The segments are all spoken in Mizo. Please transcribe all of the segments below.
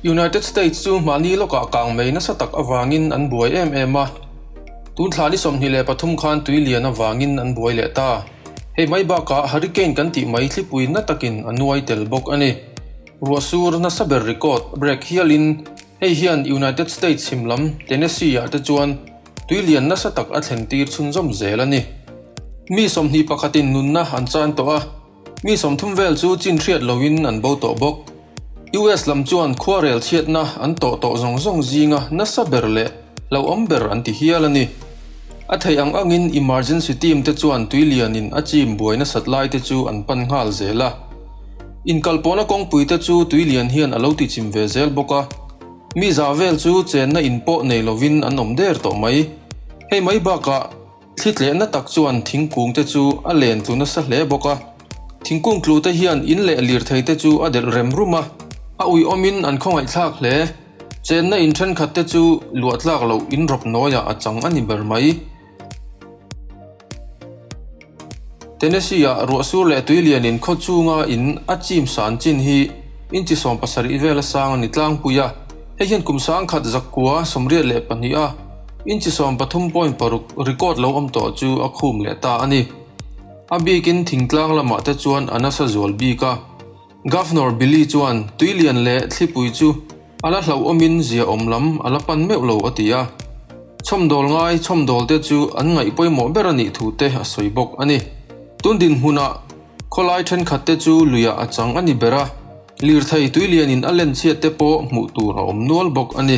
United States chu mahni lawkah kang mei nasa tak avangin an buai em em a. Tun thla ni sawmhnih leh pathum khan tui lian avangin an buai leh ta. Hei mai bakah hurricane kan tih mai thlipui na takin a nuai tel bawk a ni. Ruah sur nasa ber ri kawt, brake hial in, Hei hian United States him lam Tennessee-ah te chuan tui lian nasa tak a thlen tir chhun zawm zel a ni. Mi sawmhnih pakhatin nunna an chan tawh a, mi sawmthum vel chu chin hriat loin an bo tawh bawk. US lam chuan khuarel chhiatna an tawh tawh zawng zawng zinga nasa ber leh Lo awm ber an ti hial a ni. A theih ang angin Emergency Team te chuan tui lianin a chim buai nasat lai te chu an pan nghal zel a. Inkalpawhna kawngpui te chu tui lian hian a lo tichim ve zel bawk a. Mizah vel chu chenna in pawh nei lovin an awm der tawh mai. Hei mai bakah. Thli tlehna tak chuan thingkung te chu a len tlu nasa hle bawk a. Thingkung tlu te hian in leh lirthei te chu a delh rem rum a. A ui awm in an khawngaiht thlak hle. Chenna in thenkhat te chu luah tlak loh in rawp nawi ah a chang a ni ber mai. Tennessee ah ruahsur leh tui lian in khaw chung a in a chim san chin hi in chi sawm pasarih vel a sang a ni tlangpui a. Hei hian kum sang khat zakkua sawmriat leh pahnih a. Inchhisawm pathum point paruk record lo awm tawh chu a khum leh ta a ni. A bikin thingtlang lamah te chuan a nasa zual bik a. Governor Billy chuan Tuilian leh Thlipui chu a la hlauhawmin zia awm lam a la pan meuh lo a ti a. Chhawmdawl ngai chhawmdawl te chu an ngaih pawimawh ber a nih thu te a sawi bawk a ni. Tun dinhmunah khawlai thenkhat te chu luiah a chang a ni ber a, Lirthei Tuilianin a len chhiat te pawh hmuh tur a awm nual bawk a ni.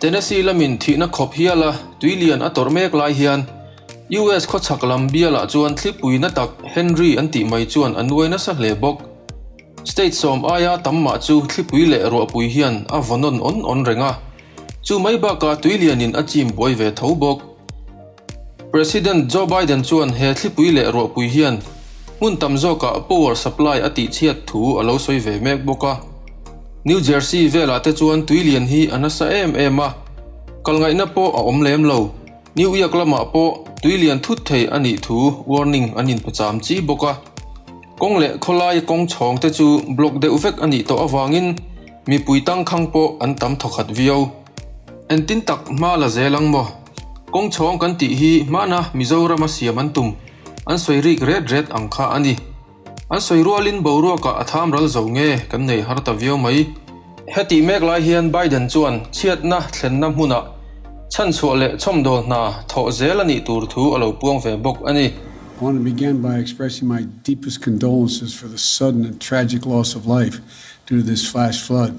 Tennessee lamin thihna khawp hial a tui lian a tawrh mek lai hian US khawchhak lam bialah chuan thlipuina tak Henry an tih mai chuan a nuai nasa hle bawk. State sawm aia tam mah chu thlipui leh ruahpui hian a vawn nawn awn awn reng a, chu mai bakah tui lianin a chim buai ve tho bawk. President Joe Biden chuan he thlipui leh ruahpui hian hmun tam zawkah power supply a tihchhiat thu a lo sawi ve mek bawk a. New Jersey velah te chuan tui lian hi a nasa em em a, kal ngaihna pawh a awm lem lo. New Iak lamah pawh tui lian thut thei a nih thu warning an inpawcham chi bawk a. Kawng leh khawlai kawng chhawng te chu block deuh vek a nih tawh avangin mipui tangkhang pawh an tam thawkhat viau. Entin tak hma la zel ang maw? Kawng chhawng kan tih hi hmana Mizorama siam an tum, an sawi rik ret ret ang kha a ni. An sawi rualin boruakah a tham ral zo nge kan nei har ta viau mai. Hetih mek lai hian Biden chuan chhiatna thlenna hmunah chhanchhuah leh chhawmdawl hna thawh zel a nih tur thu a lo puang ve bawk a ni. I want to begin by expressing my deepest condolences for the sudden and tragic loss of life due to this flash flood.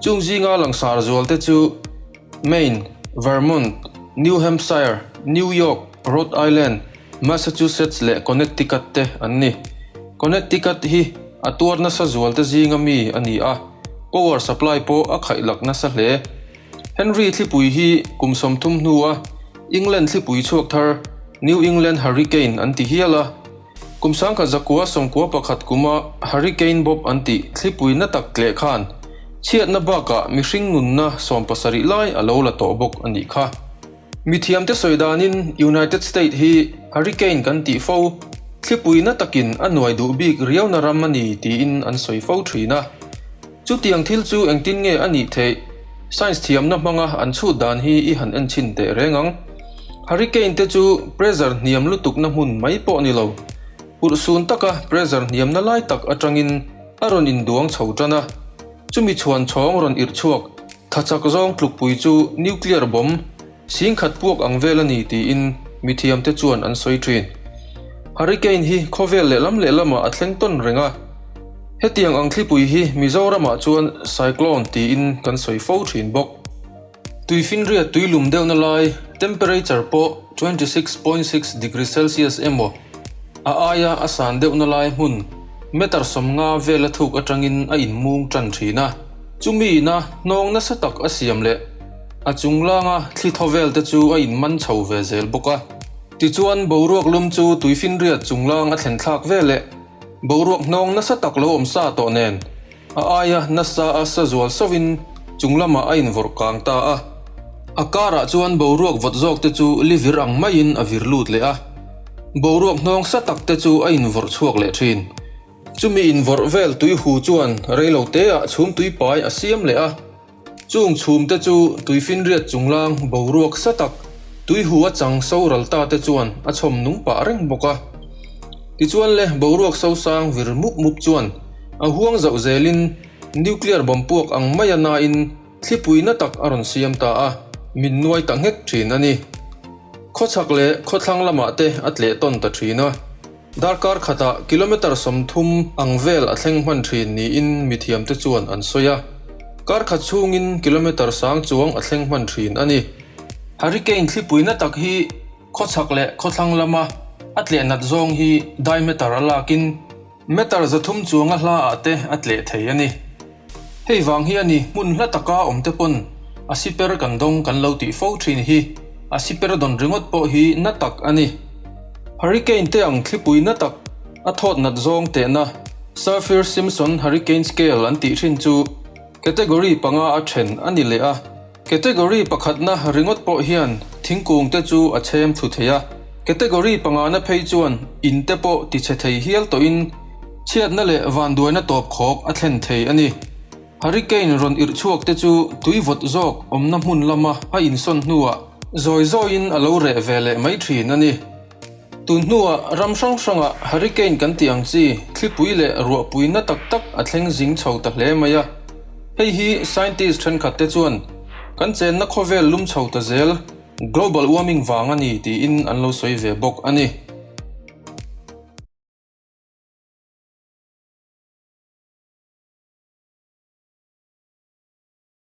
Chung zinga langsar zualte chu Maine, Vermont, New Hampshire, New York, Rhode Island, Massachusetts leh Connecticut te an ni. Connecticut hi a tuar nasa zualte zinga mi a ni a, power supply pawh a khaih lak nasa hle. Henry thlipui hi kum sawm thum hnu a England thlipui chhuak thar New England Hurricane an ti hial a, Kum sangkhat zakua sawmkua pakhat kuma Hurricane Bob an tih thlipui na tak tleh khan chhiatna bakah mihring nunna sawm pasarih lai a lo la tawh bawk a nih kha. Mi thiamte sawi danin United State hi Hurricane kan tih fo thlipui na takin a nuai duh bik riauna ram a ni tiin an sawi fo thin a. Chutiang thil chu engtin nge a nih theih? Science thiamna hmanga an chhut dan hi i han en chhin teh reng ang. Hurricane te chu pressure hniam lutukna hmun mai pawh ni lo. Purh sun taka pressure hniamna lai tak atangin a rawn induang chho tan a. Chumi chhuan chhawng rawn irh chhuak, thlachak zawng tlukpui chu nuclear bomb Sing khat puak ang vel a ni tiin mithiamte chuan an sawi thin. Hurricane hi khawvel lehlam lehlamah a thleng tawn reng a. Hetiang ang thlipui hi Mizoramah chuan Cyclone tiin kan sawi fo thin bawk. Tui finriat tui lum deuhna lai, temperature pawh twenty six point six degree celsius emaw a aia a san deuhna lai hmun meter sawmnga vel a thuk atangin a inmung tan thin a. Chumiin a hnawng nasa tak a siam leh. A chung langa thli thaw vel te chu a inman chho ve zel bawk a. Tichuan, boruak lum chu tui finriat chung lang a thlenthlak ve leh boruak hnawng nasa tak lo awm sa tawh nen a aia nasa a sa zual sovin chung lamah a invawrh kang ta a. A karah chuan boruak vawt zawk te chu li vir ang maiin a vir lut leh a. Boruak hnawng sa tak te chu a invawrh chhuak leh thin. Chumi invawrh vel tui hu chuan reilote ah chhum tui pai a siam leh a. Chung chhum te chu tui finriat chunglang boruak sa tak, tui hu a chang so ral ta te chuan a chhawm nung pah reng bawk a. Tichuan le boruak so sang vir mup mup chuan a huang zauh zel in nuclear bomb puak ang mai a na in thlipuina tak a rawn siam ta a, min nuai ta nghek thin a ni. Khaw chhak leh khaw thlang lamah te a tleh tawn ta thin a. Darkar khatah kilometre sawmthum ang vel a thleng hman thin niin mithiamte chuan an sawi a. Kar khat chhungin kilometre sang chuang a thleng hman thin a ni. Hurricane thlipuina tak hi khawchhak leh khawthlang lama a tleh nat zawng hi diametre a lakin metre zathum chuanga hla ah te a tleh thei a ni. Hei vang hi a ni hmun hla taka awmte pawn a si per kan dawng kan lo tih fo thin hi a si per dawn ringawt pawh hi na tak a ni. Hurricane te ang thlipui na tak a thawt nat zawng tehna Saffir-Simpson Hurricane Scale an tih thin chu category panga a then a ni leh a. Category pakhatna ringawt pawh hian thingkungte chu a chhem thu thei a, category pangahna phei chuan inte pawh tichhe thei hial tawhin chhiatna leh vanduaina tawp khawp a thlen thei a ni. Hurricane rawn irh chhuakte chu tui vawt zawk awmna hmun lama a insawn hnuah zawi zawiin a lo reh ve leh mai thin a ni. Tun hnuah ram hrang hrangah hurricane kan tih ang chi thlipui leh ruahpuina tak tak a thleng zing chho ta hle mai a. Hei hi scientist thenkhat te chuan kan chenna khawvel lum chho ta zel global warming vang a ni tiin an lo sawi ve bawk a ni.